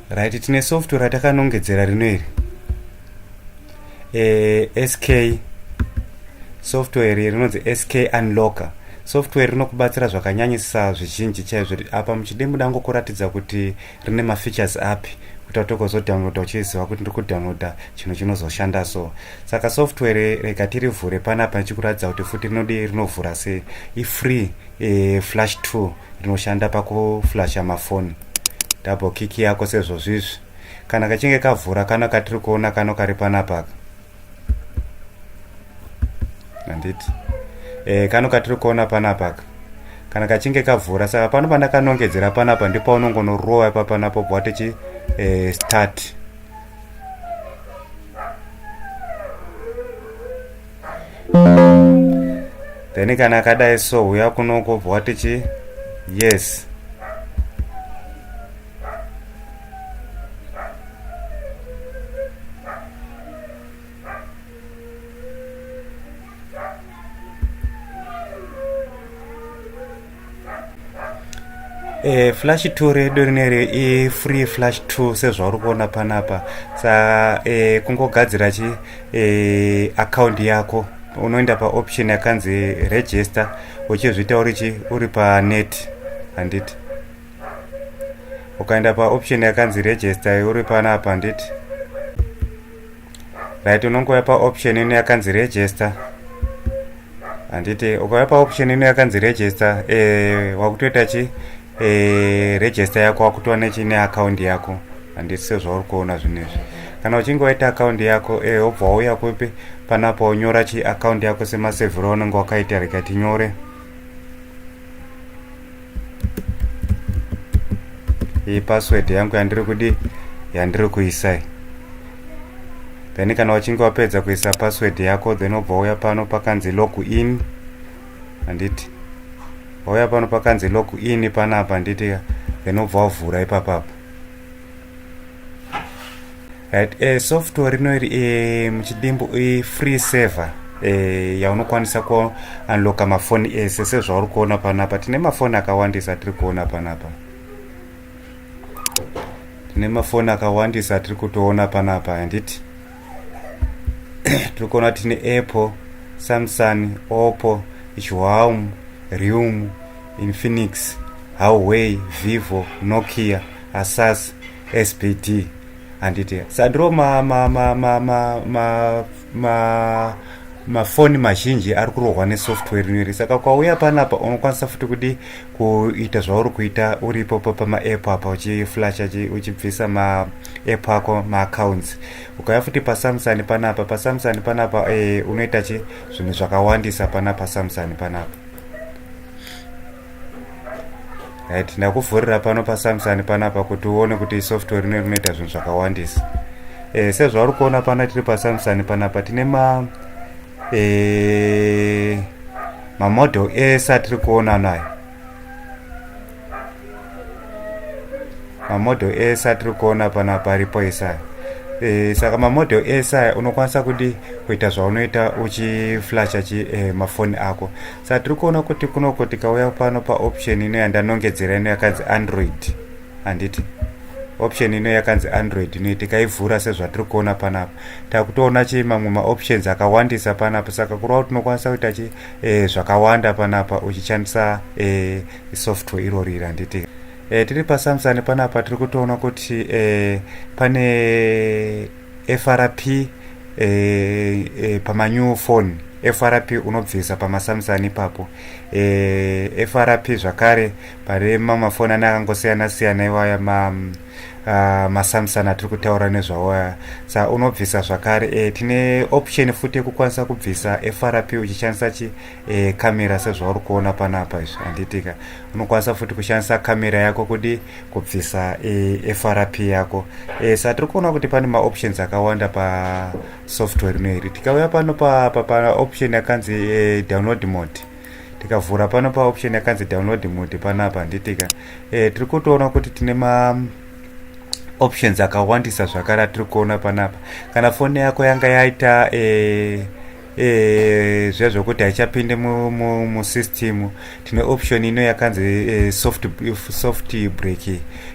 right tine software ratakanongedzera rino iri e, eh, sk software iri rinonzi sk unlocker software rinokubatsira zvakanyanyisa zvizhinji chaizvo apa muchide muda ngokuratidza kuti rine mafeatures api kuti watokozodownloada uchiziva kuti ndiri kudownloada chinhu chinozoshanda so saka software rega tirivhure panapa ndichikuratidza kuti futi rinodi rinovhura se ifree e, flash two rinoshanda pakuflasha mafoni double kick yako sezvozvizvi kana kachinge kavhura kano katiri kuona kano kari panapaka handiti e, kano katiri kuona panapaka kana kachinge kavhura saka pano pandakanongedzera panapa ndipo unongonorowa ipapanapo bva tichi e, start then kana akadai so huya kunoko bva watichi yes E, flash 2 redu rineri ifree flash 2 sezvauri kuona panapa sa e, kungogadzira chi e, akaunti yako unoenda paoption yakanzi register uchizviita uri chi uri panet handiti ukaenda paoption yakanzi register uri panapa handiti right unongouya paoption ino yakanzi register handiti ukauya paoption ino yakanzi register eh, wakutoita chi eh, register yako wakutowa nechine akaundi yako handiti sezvauri kuona zvinezvi kana uchinge waita akaundi yako eh, wobva wauya kupi panapa unyora chi akaundi yako semasevhiro unenge wakaita rega tinyore iyi password yangu yandiri kudi yandiri kuisai then kana wachinge wapedza kuisa password yako then obva uya pano pakanzi log in handiti wauya pano pakanzi log in panapa handiti then obva wavhura ipapapa Right, eh, software rino iri eh, muchidimbu eh, free server eh, yaunokwanisa kuunlocka mafoni ese sezvauri kuona panapa tine mafoni akawandisa tiri kuona panapa tine mafoni akawandisa tiri kutoona panapa handiti tiri kuona tine apple samsung oppo huawm rium infinix huawei vivo nokia asas sbd handiti sandro ma ma ma ma ma ma ma mafoni mazhinji ari kurohwa nesoftware rineri saka kwauya panapa unokwanisa futi kudi kuita zvauri kuita uripo pamaapp apa uchiflasha uchibvisa maapp ako maaccounts ukauya futi pasamsung panapa pasamsung panapa e, unoita chi zvinhu zvakawandisa pana pasamsung panapa right ndakuvhurira pano pasamsung panapa kuti uone kuti software rino rinoita zvinhu zvakawandisa e, sezvauri kuona pana tiri pasamsung panapa tine ma e, mamodel ese atiri kuona nayo mamodel ese atiri kuona panapa aripo esaya e, saka mamodel esaya unokwanisa kudi kuita zvaunoita uchiflasha chi e, mafoni ako satiri kuona kuti kunoko tikauya pano paoption ino yandanongedzera ino yakanzi android handiti option ino yakanzi android ino tikaivhura sezvatiri kuona panapa takutoona chii mamwe maoptions akawandisa panapa saka kureva tinokwanisa kuita chi e, zvakawanda panapa uchishandisa e, software irori iri handiti e, tiri pasamsani panapa tiri kutoona kuti e, pane FRP eh, eh, pamanew phone FRP unobvisa pamaSamsung ipapo eh, FRP zvakare pane mamafoni ane akangosiyana siyana iwaya ma uh, ah, maSamsung atiri kutaura nezvawo aya sa unobvisa zvakare eh, tine option futi yekukwanisa kubvisa FRP uchishandisa chi eh, camera sezvauri kuona panapa izvi handitika unokwanisa futi kushandisa camera yako kudi kubvisa e, frp yako e, sa tiri kuona kuti pane maoptions akawanda pasoftware ino iri tikauya pano paoption pa, pa yakanzi e, download mode tikavhura pano paoption yakanzi download mode panapa nditika e, tiri kutoona kuti tine ma options akawandisa zvakare atiri kuona panapa kana foni yako yanga yaita e, Eh, zviya zvokuti haichapinde musystem tine option ino yakanzi eh, soft break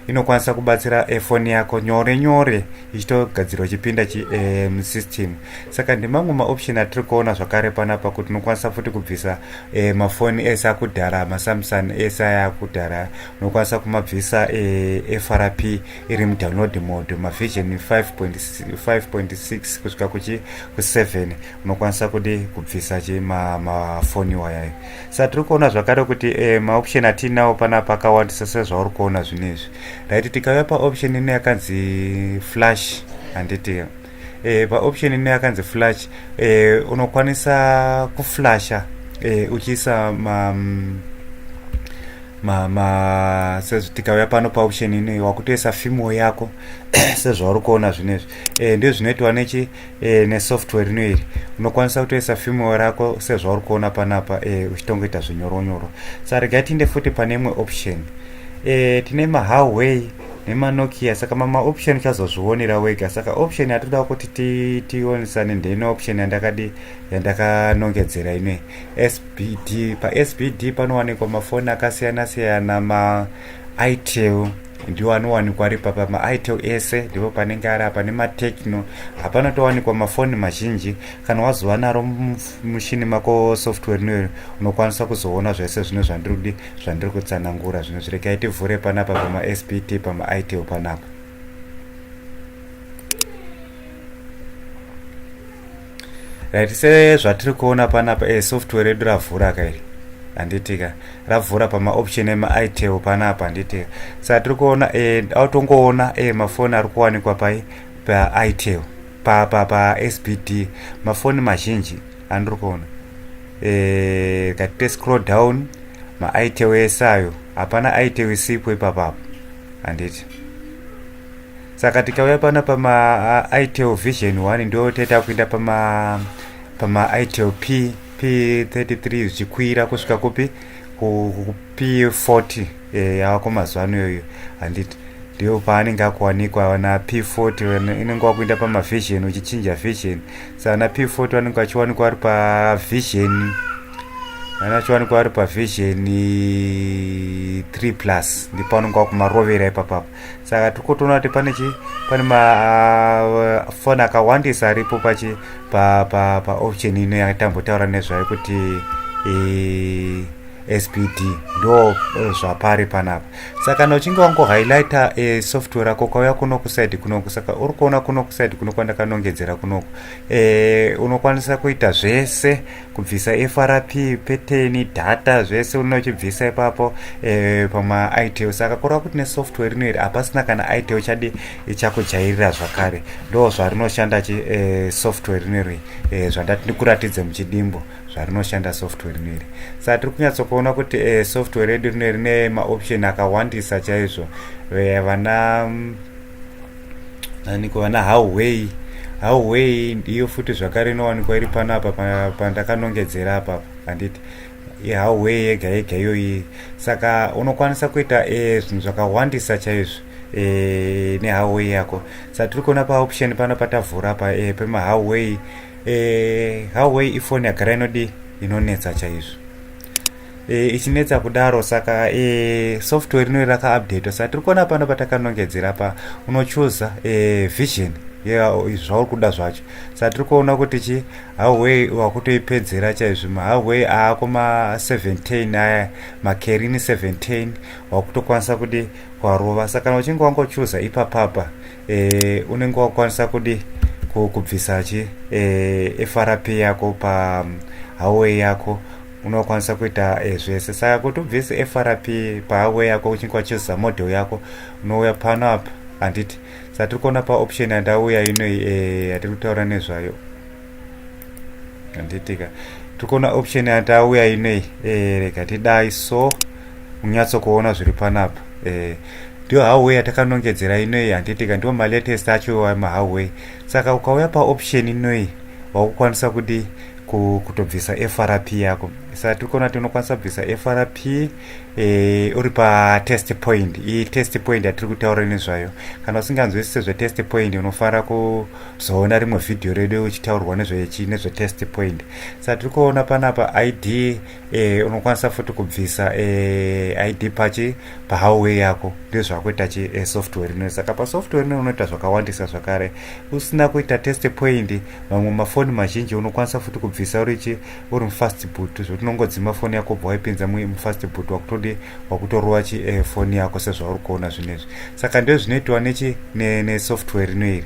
inokwanisa kubatsira eh, foni yako nyore nyore ichitogadzirwa chipinda musystem saka ndimamwe maoption atiri kuona zvakare panapa kuti unokwanisa futi kubvisa mafoni ese akudhara masamsung ese aya akudhara unokwanisa kumabvisa frp iri mudownload mode mavision 5.6 kusvika kuchi 7 unokwanisa kudi kubvisa chi mafoni ma iwayayo sa tiri kuona zvakare kuti eh, maoption atiinawo panapa akawandisa sezvauri kuona zvino izvi right tikauya paoption ino yakanzi flash handiti eh, paoption ino yakanzi flash eh, unokwanisa kuflasha eh, uchiisa ma, mm, ma, ma tikauya pano paoption ino wakutoisa fimo yako sezvauri kuona zvino izvi eh, ndizvo zvinoitwa nechi e, nesoftware ino iri unokwanisa kutoisa female rako sezvauri kuona panapa e, eh, uchitongoita zvinyoronyoro sa regai tiinde futi pane imwe option e, tine mahoway nemanokia saka mamaoption uchazozvionera wega saka option yatoda kuti tionisane ndeine option yandakadi yandakanongedzera ine sbd pasbd panowanikwa mafoni akasiyana siyana maitel ndiwo anowanikwa ari pa pamaitel ese ndipo panenge ari apa nematechno hapana towanikwa mafoni mazhinji kana wazova naro mushini mako software noyo unokwanisa kuzoona zvese zvine zvandirudi zvandiri kutsanangura zvino zvirekai tivhure panapa pamaspt pamaitel panapa right sezvatiri kuona panapa e eh, software redu ravhura ka iri handitika ravhura pamaoption emaitel panapa handitika saka tiri kuona e autongoona e mafoni ari kuwanikwa pai paitel pasbt mafoni mazhinji andiri kuona e katite scroll down maitel ese ayo hapana itel isipo ipapapo handiti saka tikauya pano pama uh, itel vision 1 ndo taita kuenda pama pama itel p p33 zvichikwira kusvika kupi p40 eh, yavako mazuva ano iyoyo handiti ndiyo paanenge akuwanikwa vana p40 inenge wakuenda pamavision uchichinja vision sa ana p40 vanenge vachiwanikwa vari pavision ana achiwanikwa vari pavision 3 plus ndipo anenge wakumarovera ipapapo saka tikotoona kuti pane chi pane mafoni ah, uh, akawandisa aripo pachi pa pa pa option ino yatambotaura nezvayo kuti e, spd ndo eh, zvapari panapa saka kana uchinge wango highlighta e, eh, software ako kwauya kuno kusaidi kunoku saka uri kuona kuno kusaidi kuno kwandakanongedzera kunoku e, unokwanisa kuita zvese kubvisa frp peteni data zvese unochibvisa ipapo e, pamaitel saka kureva kuti nesoftware rino iri hapasina kana itel chadi chakujairira zvakare ndo zvarinoshanda chi e, software rino iri e, zvandati ndikuratidze muchidimbo zvarinoshanda software rino iri saka tiri kunyatsokuona kuti e, software redu rino rine maoption akawandisa chaizvo e, vana mm, aniko vana hauwei hauwei ndiyo futi zvakare inowanikwa iri pano apa pandakanongedzera apa handiti ihauwei yega yega iyoyi saka unokwanisa kuita e, zvinhu zvakawandisa chaizvo e, nehauwei yako sa tiri kuona paoption pano patavhura pa e, pemahauwei hauwei ifoni yagara inodii inonetsa chaizvo e, ichinetsa kudaro saka e, software rino rakaupdate saka tiri kuona pano patakanongedzera pa unochuza e, eh, vision zvauri kuda zvacho saka tiri kuona kuti chi haway wakutoipedzera chaizvo mahaway aako ma17 aya makerini 17 wakutokwanisa kuti kwarova saka kana uchinge wangochuza ipapapa e, unenge wakwanisa kudi kubvisa chi e, eh, frp yako pa mm, hawe yako unokwanisa kuita e, zvese saka kuti ubvise frp pahawe yako uchinge wachizoza model yako unouya pano apa handiti satiri kuona paoption yandauya inoi yatiri kutaura nezvayo handitika tiri kuona option yatauya inei eh, rega tidai so unyatso kuona zviri panapa eh, ndiyo howay yatakanongedzera inoi handitika ndiwo malatest acho mahoway saka ukauya paoption inoi wakukwanisa kudii kutobvisa frp yako saka tiri kuona kuti unokwanisa kubvisa frp e, uri patest point iyi test point yatiri kutaura nezvayo kana usinganzwisise zvetest point unofanira ku kuzoona rimwe vhidhiyo redu ichitaurwa nezvechi nezvetest point sa tiri kuona panapa id eh, unokwanisa futi kubvisa eh, id pachi pahawway yako ndizvo zvakuita chi eh, software ino saka pasoftware ino unoita zvakawandisa zvakare usina kuita test point mamwe mafoni mazhinji unokwanisa futi kubvisa urichi uri mufast boot zvekuti unongodzima foni yako bva waipinza mufast boot wakutodi wakutorova chi eh, foni yako sezvauri kuona zvinezvi saka ndo zvinoitiwa nechi nesoftware ne rino iri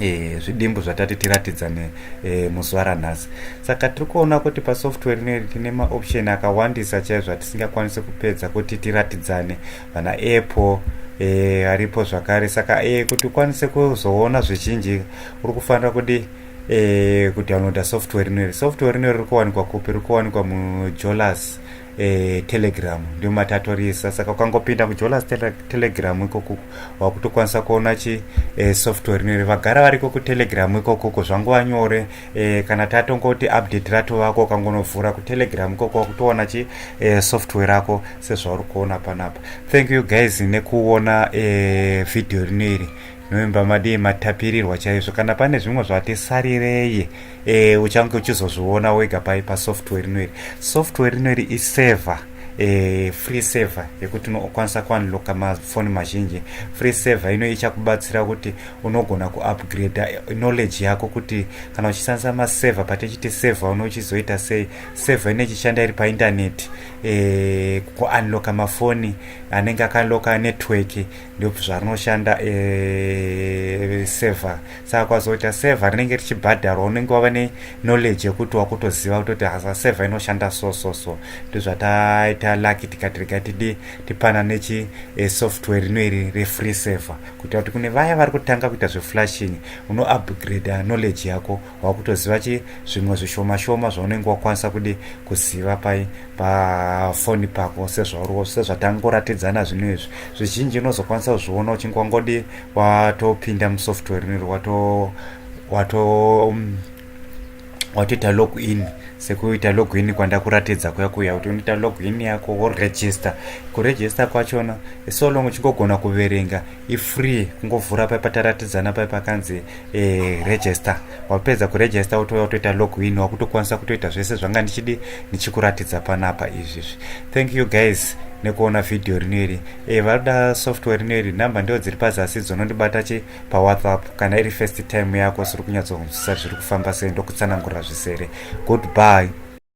E, zvidimbu zvatati tiratidza ne e, muzuva ranhasi saka tiri kuona kuti pasoftware rino iri tine maoption akawandisa chaizvo atisingakwanisi kupedza kuti tiratidzane vana apple e, aripo zvakare saka e, kuti ukwanise kuzoona zvizhinji uri kufanira kudii eh, kudownloada software rinori software rinori riri kuwanikwa kupi riri kuwanikwa mujolas eh, telegram ndio matatorisa saka ukangopinda mujolas tele, telegram ikoko wakutokwanisa kuona chi eh, software rinori vagara variko kutelegram ikokoko zvanguva nyore eh, kana tatongoti update rato vako ukangonovhura kutelegram ikoko wakutoona chi eh, software rako sezvauri kuona panapa thank you guys nekuona eh, video rinoiri November madii matapirirwa chaizvo kana pane zvimwe zvati sarirei e, uchange uchizozviona wega pai pasoftware rino iri software rino iri iserver e, free server yekuti unokwanisa kuunlocka mafoni mazhinji free server ino ichakubatsira kuti unogona kuupgrade eh, knowledge yako kuti kana uchishandisa maserver patichiti server uno uchizoita sei server ino ichishanda iri paintaneti e, kuunlocka mafoni anenge akanlocka network ndozvanoshanda e, eh, server saka kwazoita server rinenge richibhadharwa unenge wava neknowledge yekuti wakutoziva kutoti hasa server inoshanda so so so ndozvataita lucky tikati rega tidi tipana nechi e, software rino iri refree server kuita kuti kune vaya vari kutanga kuita zveflashing unoupgrade knowledge yako wakutoziva chi zvimwe zvishoma shoma zvaunenge wakwanisa kudi kuziva pai pafoni pako sezvauriwo sezvatangoratidzana zvinhu izvi zvizhinji unozokwanisa kuzviona uchinge wangodi watopinda musoftware niri wato wato um, watoita log in sekuita log in kwandakuratidza kuya kuya kuti unoita log in yako woregister kuregister kwachona so long uchingogona kuverenga ifree kungovhura paya pataratidzana paya pakanzi eh, register wapedza kuregister wotouya kutoita login wakutokwanisa kutoita zvese zvanga ndichidi ndichikuratidza panapa izvizvi thank you guys nekuona vhidhiyo rino iri e, eh, varoda software rino iri nhamba ndiwo dziri pazasi dzonondibata chi pawhatsapp kana iri first time yako siri kunyatsonzwisisa zviri kufamba sei ndokutsanangurira zvisere good bye